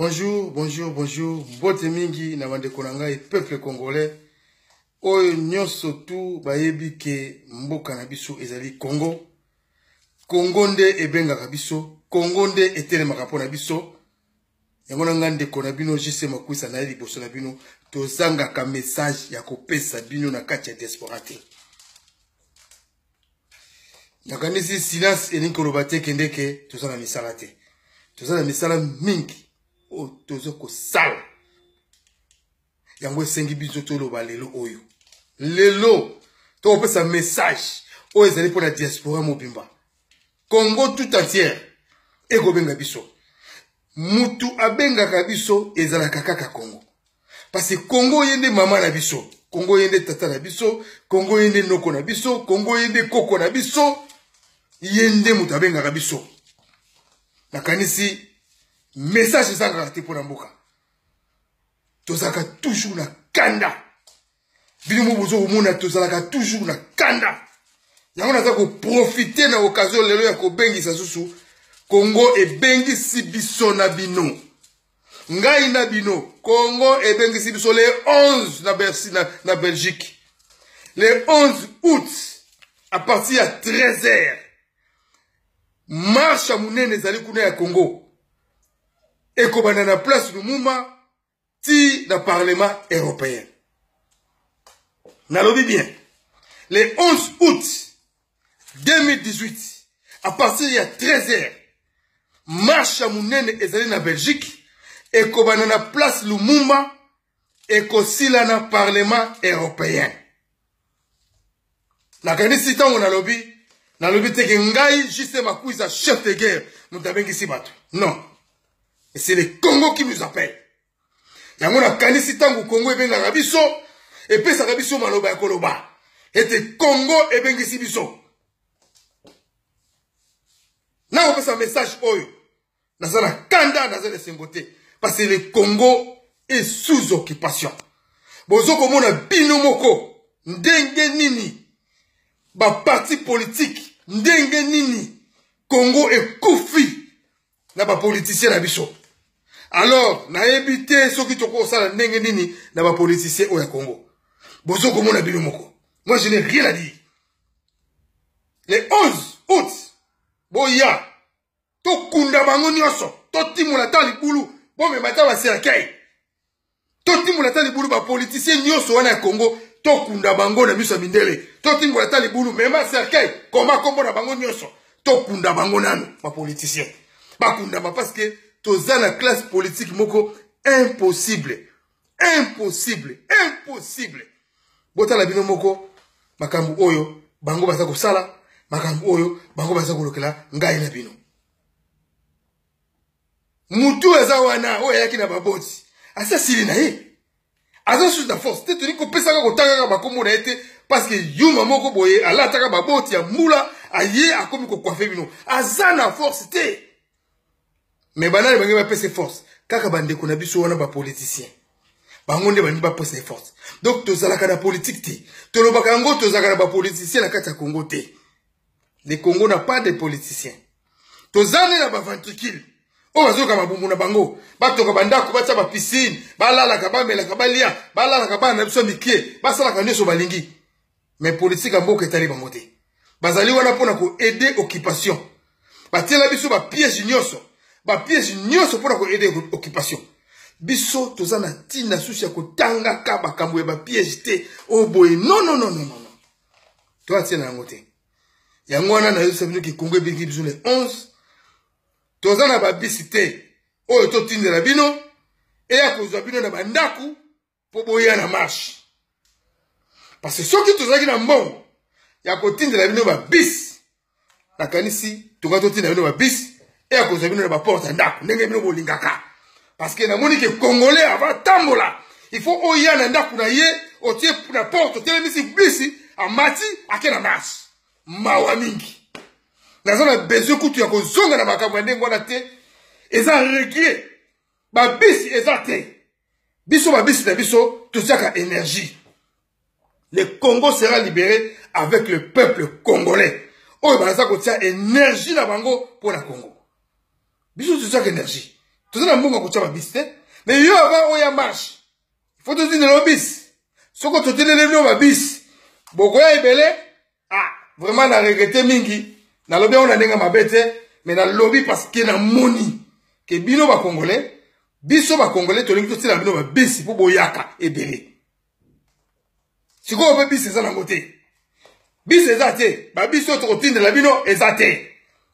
bonjour bonjour bonjour mbote mingi na bandeko na ngai peuple congolais oyo nyonso tu bayebi ke mboka na biso ezali congo congo nde ebengaka biso congo nde etelemaka mpo na biso yango na ngai ndeko na bino jc makwisa na ye liboso na bino tozangaka message ya kopesa bino na kati ya diaspora te nakanisi silence elingi koloba te kende ke toza na misala te toza na misala mingi oyo toza kosala yango esengi biso toloba lelo oyo lelo tokopesa message oyo ezali mpo na diaspora mobimba congo tout entière ekobenga biso mutu abengaka biso ezalaka kaka congo parce que congo ye nde mama na biso congo ye nde tata na biso congo ye nde noko na biso congo ye nde koko na biso ye nde moto abengaka biso nakanisi message ezangaka te mpo na mboka tozalaka toujours na kanda bino mo bozo komona tozalaka toujours na kanda yango naza koprofite na okazio lelo ya kobengisa susu kongo ebengisi biso na bino ngai na bino kongo ebengisi biso le 11 na, Bercy, na, na belgique le 11 août à partir ya 13 heures marsha monene ezali kuna ya kongo ekobanda na place lumuma ti na parlement européen nalobi bien le 11 août 2018 à partir ya 13 heures marche ya monene ezali na belgique ekobanda na place lumumba ekosila na parlement européen nakanisi ntango nalobi nalobi teke ngai juste makuiza chef de guerre moto abengisi bato non c'est le congo qui nous appelle yango nakanisi ntango congo ebengaka biso epesaka biso maloba ya koloba ete congo ebengisi biso nakopesa message oyo naza na kanda naza na esengo te parce que le congo est sous occupation bozo komona bino moko ndenge nini baparti politike ndenge nini congo ekufi na bapolitisien na biso alors nayebi te soki tokosala ndenge nini na bapolitisien oyo ya congo bozo komona bino moko moi je n'ai rien à dire le 11 août boya tokunda bango nyonso totimola ata libulu bomema ata bacercueil totimola ata libulu bapolitisien nyonso wana ya congo tokunda bango na miso ya mindele totimola ata libulu mema cercueil koma nkombo na bango nyonso tokunda bango nano bapolitisien bakundama parce que toza na classe politique moko impossible impossible impossible botala bino moko makambo oyo bango baza kosala makambo oyo bango baza kolokela ngai na bino mutu aza wana oyo ayaki na baboti asi asili na ye aza susu na force te toni kopesaka kotangaka bakombo na ye te parceke yuma moko boye alataka baboti ya mbula aye akomi kokwafe bino aza na force te me banani bange bapesa force kaka bandeko na biso wana bapoliticien bango nde balingi bapesa ye force donc tozalaka na politike te tolobaka yango tozalaka na bapoliticien na kati ya congo te le congo na pas de politicien toza nde na baventricule oyo bazoyoka mabumbu na bango batoka bandako batya bapisine balalaka bamelaka balia balalaka bana na biso ya mikie basalaka nyonso balingi mais politique ya mboka etali bango te bazali wana mpo na koaide occupation batiela biso bapiège nyonso bapiège nyonso mpo na koaide occupation biso toza na ntina susu ya kotangaka makambo ya bapiège te oyo oh boye nonononono to atie na yango te yango wana nayosa bino kikongo ebiki biso le 11 toza na babisi te oyo totindela bino eya kozwa bino na bandako mpo boya na marche parce que soki tozalaki na mbongo ya kotindela bino babisi nakanisi toka totinda bino babisi e ya kozwa bino na baporte ya ndako ndenge bino bolingaka parce que namoni ke congolais ava tambola il faut oya na ndako na ye otie na porte otelemisi bisi amati ake na marche mawa mingi naza na besoin kutu ya kozonga na makambo ya ndenge wana te eza regie babisi eza te biso babisi na biso totiaka énergie le congo sera libéré avec le peuple congolais oyo baza kotia énergie na bango mpo na congo biso totiaka énergie toza na mbongo ya kotia babisi te mais yo ava oyo ya marche ifo totindela yo bisi soko totindeleli yo babisi bokoya ebele ah vraiment na regrete mingi nalobi yango na ndenge mabe te mais nalobi parce que namoni ke bino bakongolais biso bakongolais tolingi totiela bino babisi mpo boyaka ebele sikoyo mpe bisi eza nango te bisi eza te babiso tokotindela bino eza te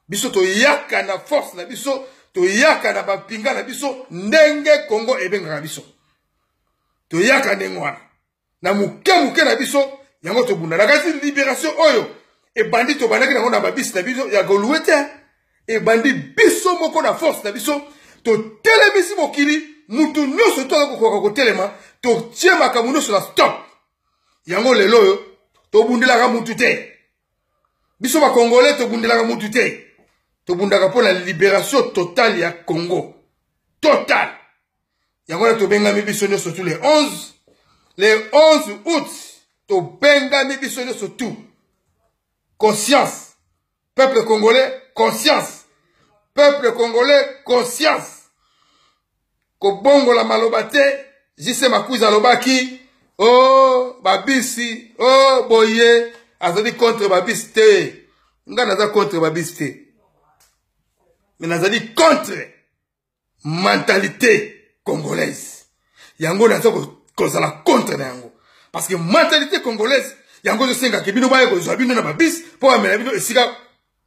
biso toyaka na force na biso toyaka na bampinga na biso ndenge kongo ebengaka biso toyaka ndenge wana na moke moke na biso yango tobunda na kasi liberation oyo ebandi tobandaki nango na babisi na biso ya golue te ebandi biso moko na force na biso totelemisi mokili motu nyonso to aza kokoka kotelema totie makambo nyonso na stop yango lelo oyo tobundelaka motu te biso bakongole tobundelaka motu te tobundaka mpo na liberation totale ya congo totale yango wana tobengami biso nyonso tu le 11 le 11 août tobengami biso nyonso tu conscience peuple congolais conscience peuple congolais conscience kobongola maloba te jise makuzi alobaki o oh, babisi o oh, boye azali contre babisi te ngai naza contre babisi te me nazali contre mentalite congolaise yango naza kozala contre na yango parce que mentalite congolaise yango ezosengaka bino baya kozwa bino na babis mpo bamela bino esika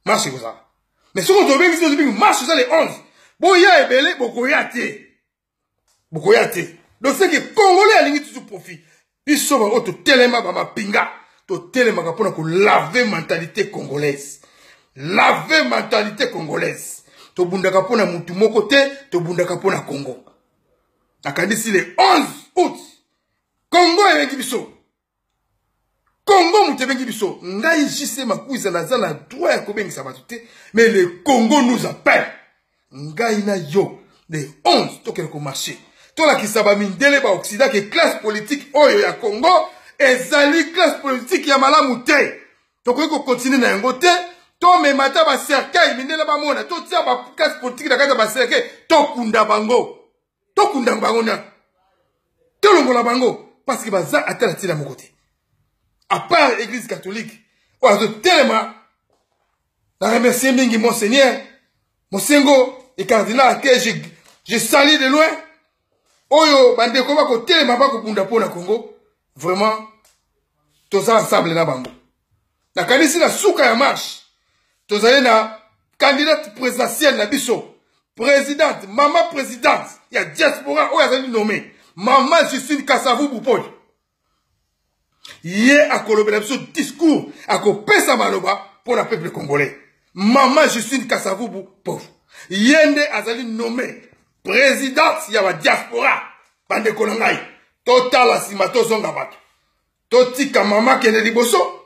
marche ekozala mais soki tobengisi tozobingi marche eza le 11 boya ebele bokoya te bokoya te donc seke congolais alingi tutu profit biso baoyo totelema bamapinga totelemaka mpona kolave mentalité congolaise lave mentalité congolaise tobundaka mpo na motu moko te tobundaka mpo na congo nakanisi le 11 août congo ebengi biso congo moto ebengi biso ngai jc makuiza naza na droit ya kobengisa bato te mais le congo nous appelle ngai na yo le 11 tokende komarche tolakisa bamindele baoksida ke classe politique oyo ya congo ezali classe politique ya malamu te tokoki kokontinue na yango te tomema ata bacercueil mindele bamona totia baclasse politique na kati ya bacercueil tokunda bango tokunda bango na tolongola bango parce que baza ata na ntina moko te à part église catholique oyo azotelema na remercie mingi monseigneur mosengo et cardinal que je, je sali de loin oyo bandeko bakotelema bakobunda mpo na congo vraiment toza ensemble na bango nakanisi na suka ya marche tozali na candidate présidentielle na biso présidente mama présidente ya diaspora oyo azali nommé mama justine kasavu bupoli ye akolobela biso discours akopesa maloba mpo na peuple congolais mama justine kasavubu pauvre ye nde azali nommé présidente ya badiaspora bandeko na ngai totala nsima tozonga bato totika mama kende liboso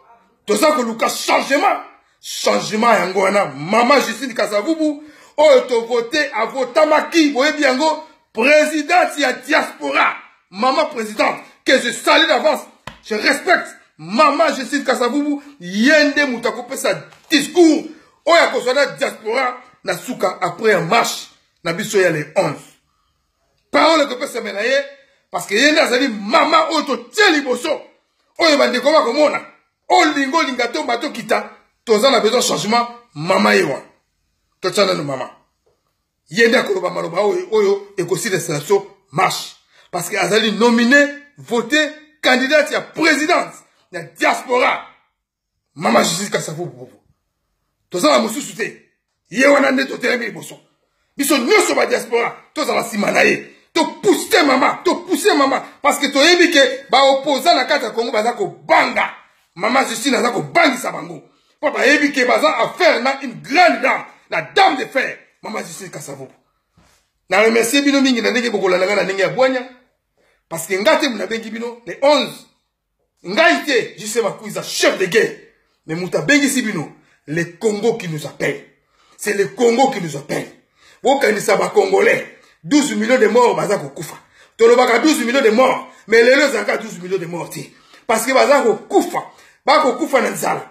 toza koluka changement changement yango wana mama justine kasavubu oyo tovote avotamaki boyebi yango présidente ya diaspora mama présidente que je salue d'avance je respecte mama justine kasavubu ye nde moto akopesa discours oyo akozwa na diaspora na suka après ya marche na biso ya le 11 parole ekopesama na ye parce que ye nde azali mama oyo totie liboso oyo bandeko bakomona olinga olinga to bato kita toza na besoin changement mama ye wana totya nano mama ye nde akoloba maloba oyo oyo ekosilisa biso marche parce que azali nomine vote candidate ya présidence ya diaspora mama jesus kasavuvuvu toza na mosusu te ye wana nde totelemi liboso biso nyonso badiaspora tozala nsima na ye topuse mama topuse mama parce que toyebi ke baopoza na kati ya kongo baza kobanga mama justine aza kobangisa bango mpo bayebi ke baza affaire na une grande dame la dame de fer mama justine kasavubu na remercie bino mingi na ndenge bokolanda ngai na ndenge ya bwanya parce que ngai te nabengi bino le 11 ngai te jise makuiza chef de guerre mais moto abengisi bino le congo qui nous appelle c'est le congo qui nous appelle bokanisa bacongolais 12 millions de morts baza kokufa tolobaka 12 millions de morts mais lelo ezalaka 12 millions de morts te parce que baza kokufa bakokufa na nzala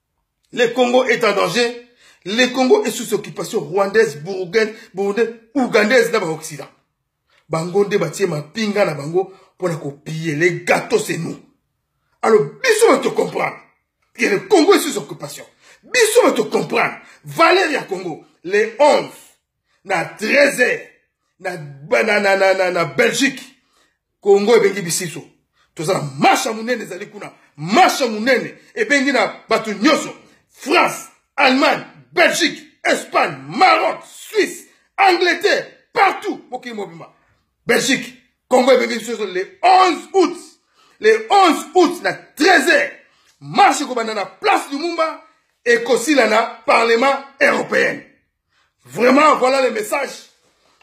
Le Congo est en danger. Le Congo est sous occupation rwandaise, burundaise, burundaise, ougandaise na ba Occident. Bango nde batie mapinga na bango pona ko piller les gâteaux c'est nous. Alors biso on te comprendre que le Congo est sous occupation. Biso on te comprendre. Valeur ya Congo le 11 na 13 heures na, na, na, na, na, na belgique congo ebengi bisiso toza na marshe ya monene ezali kuna marshe ya monene ebengi na bato nyonso france allemagne belgique espagne maroc suisse angleterre partout mokili mobimba belgique congo ebengi biso le 11 août le 11 août na 13 heures marshe ekobanda na place lumumba ekosila na parlement européenne vraiment voilà le message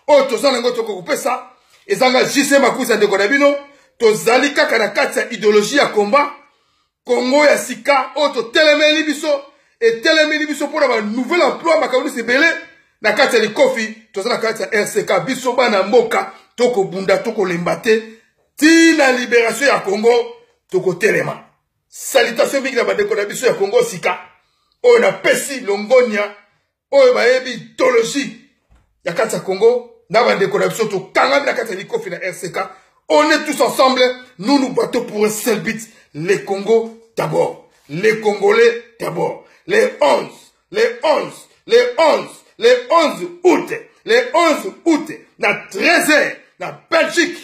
oyo toza nango tokokopesa ezanga jise makusa ndeko na bino tozali kaka na kati ya ideologie ya combat kongo ya sika oyo totelemeli biso etelemeli biso mpo na banouvelle emploi makambo nyonso ebele na kati ya likofi toza na kati ya rck biso bana mboka tokobunda tokolemba te ntina liberation ya congo tokotelema Salutation mingi na bandeko na biso ya Congo sika oyo na pesi longonya oyo bayebi idologie ya kati ya Congo na bandeko na biso tokangami na kati ya likofi na RCK on est tous ensemble nous nous battons pour un seul but le Congo d'abord les Congolais d'abord les 11 les 11 les 11 les 11 août les 11 août na 13h na Belgique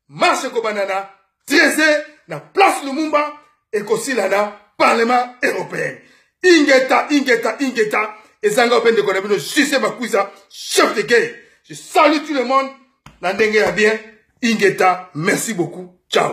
marche ekobanda na 13 na place lumumba ekosila na parlement européen ingeta ingeta ingeta ezanga ope ndeko na bino juse makuisa chef de guerre je salue tout le monde na ndenge ya bien ingeta merci beaucoup ciao